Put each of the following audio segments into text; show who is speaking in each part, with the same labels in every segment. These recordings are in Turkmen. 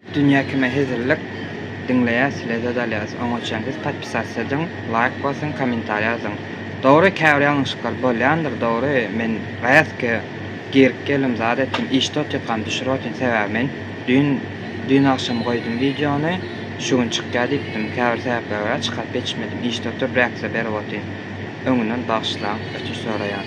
Speaker 1: Dünýä kime hezillik diňleýäs lezzet alýas oňa çen siz podpisasiýa ediň laýk basyň kommentariýa ýazyň dogry käbir ýalňyşyklar bolýandyr dogry men rätke girip geldim zat etdim işde otyrkam düşürip otyryn sebäbi men düýn düýn agşam goýdum wideony şu gün çykýar diýipdim käbir sebäplere görä çykaryp ýetişmedim işde oturyp reaksiýa berip otyryn öňünden bagyşlaň ötünç soraýan.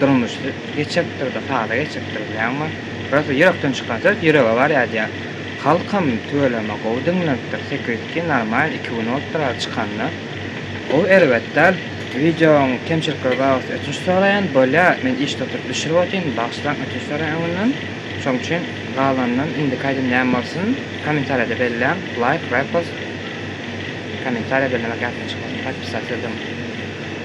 Speaker 1: Durmuş geçekdir-de, sada geçekdir bilenmi? Rosa ýürekden çykan söz ýürege barýadýa. Halkam tüweleme gowy diňlenipdir, sekizki normal iki gün bolupdyr aly çykanyna. Gowy erbet däl. Wideoň kemçilikleri bar bolsa ötünç soraýan, bolýa men işde oturyp düşürip otyryn, bagyşlaň ötünç soraýan öňünden. Şoň üçin galanyndan indiki aýdym näme bolsun? Kommentariýada belläň, laýk, repost, kommentariýa bellemek ýatdan çykmasyn, podpisat sözüň.